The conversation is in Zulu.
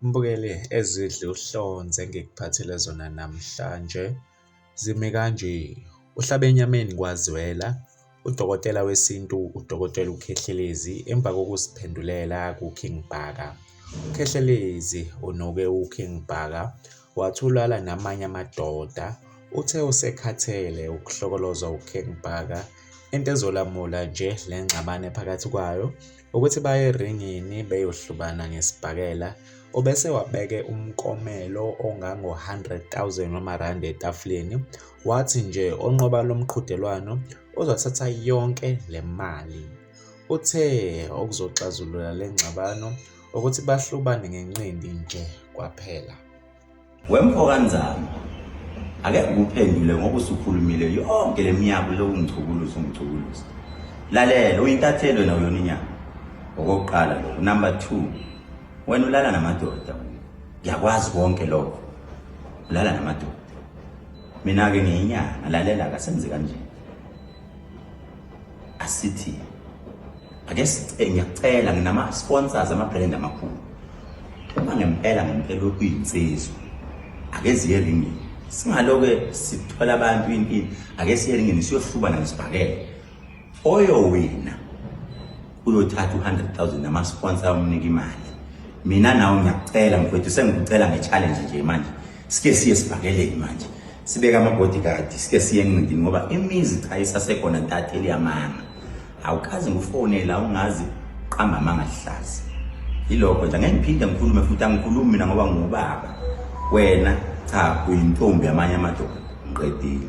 Mbukeli ezidla uhlonze engikuphathele zona namhlanje zimi kanje. Uhlabe enyameni kwazwela udokotela wesintu udokotela uKhehlelezi emva kokuziphendulela kuKing Bhaka. UKhehlelezi unuke uKing Bhaka wathi ulala namanye amadoda uthe usekhathele ukuhlokolozwa uKing Bhaka into ezolamula nje le ngxabano ephakathi kwayo ukuthi baye eringini beyohlubana ngesibhakela obese wabeke umkomelo ongango-100,000 wamarandi etafuleni wathi nje onqoba lo mqhudelwano uzothatha yonke le mali. Uthe okuzoxazulula le ngxabano ukuthi bahlubane ngenqindi nje kwaphela wemfokanzana ake ngikuphendule ngoba usukhulumile yonke le minyaka lokungichukuluza ungichukuluza lalela uyintatheli wena uyona inyanga okokuqala lokho number two wena ulala namadoda ngiyakwazi konke lokho ulala namadoda mina-ke ngiyinyanga lalela kasenze kanjena asithi ake ngiyacela nginama-sponsors ama-brand amakhulu uma ngempela ngempela okuyinsizwa ake ziye ringini singaloke sithola abantu impini ake siye ringini siyohlubana ngesibhakele oyowina uyothatha u-100,000 namasponsa amnike imali mina nawe ngiyakucela mfowethu sengikucela nge-challenge nje manje sike siye sibhakeleni manje sibeke ama-bodyguard sike siye encindini ngoba imizi cha isasekhona ntatheli yamanga awukazi ngufonela ungazi qamba amanga lihlazi yilokho nje angeke ngiphinde ngikhulume futhi angikhulumi mina ngoba ngubaba wena cha uyintombi yamanye amadoda ngiqedile